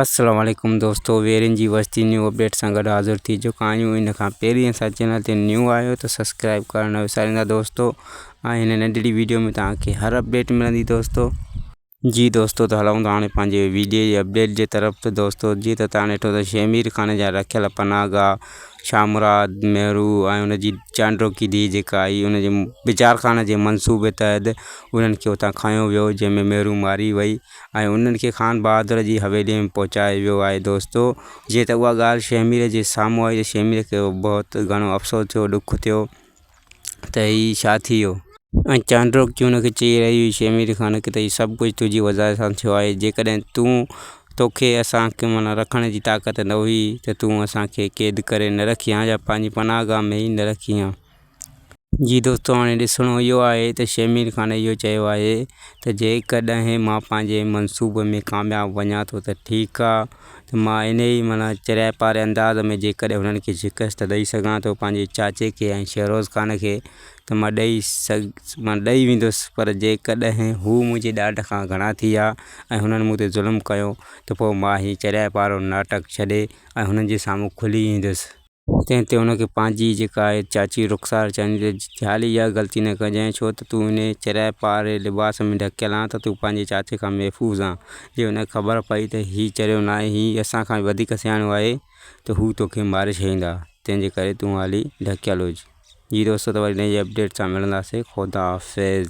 السلام عليڪم دوستو ويرين جي وستي نيو اپڊيٽ سان گڏ حاضر ٿي چڪا آهيون ان کان پهرين اسان چينل تي نيو آهيو ته سبسڪرائب ڪرڻ نه وساريندا دوستو ۽ هن ننڍڙي ويڊيو ۾ توهان کي هر اپڊيٽ ملندي دوستو جي دوستو ته هلون ٿا هاڻي پنهنجي ويڊيو جي اپڊيٽ جي طرف ته دوستو جيئن ته توهان ڏٺو ته شيخ مير خان جا رکيل پناهه گاهه شاهه مراد مهرو ۽ ان جي چانڊوڪي ڌيء جيڪا آئي ان جي بچار خان جي منصوبي تحت انهن کي اتان کنيو ويو جنهن ۾ مهرو ماري وئي ۽ انهن کي خان بهادر جي حويليء ۾ پهچايو ويو آهي دوستو جيئن ته اها ڳالهه شهمير جي سامهون آئي ته شهمير کي بهت گهڻو افسوس ٿيو ڏک ٿيو ته هي ڇا ٿي ويو. ۽ چانڊوڪي ان کي چئي رهي هئي شهمير خان کي ته هي سڀ ڪجهه تنهنجي وزارت سان ٿيو آهي جيڪڏهن تون توکي اسان کي معنيٰ رکڻ جي طاقت نه هئي ته تون اسان کي قيد ڪري نه رکي هان يا پنهنجي پناهه گاهه ۾ ئي نه رکي هان. جي دوستو هاڻي ڏسڻو اهو آهي ته شمير خان اهو چيو آهي ته جيڪڏهن مان پنهنجي منصوبي ۾ ڪامياب وڃان ٿو ته ٺيڪ آهي ته مان انهي معنيٰ چريائي پاري انداز ۾ جيڪڏهن هنن کي شڪست ڏئي سگهان ٿو پنهنجي چاچي کي ۽ شهروز خان کي ته مان ڏئي مان ڏئي ويندس پر جيڪڏهن هو منهنجي ڏاڍ کان گهڻا ٿي ويا ۽ هنن مون تي ظلم ڪيو ته پوء مان هي چريائي پارو ناٽڪ ڇڏي ۽ هنن جي سامهون کلي ايندس. تنهن تي هن کي پنهنجي جيڪا آهي چاچي رخسار چوندي ته زال اها غلطي نه ڪجانء، ڇو ته تون انهيء چريائي پاري لباس ۾ ڍڪيل آن ته تون پنهنجي چاچي کان محفوظ آن. جي هن کي خبر پئي ته هي چريو ناهي، هي اسان کان به وڌيڪ سياڻو آهي ته هو تو کي ماري ڇڏيندا، تنهن جي ڪري تون هالي ڍڪيل هج. جي دوستو ته وري نئين اپڊيٽ سان ملنداسين خداحافظ.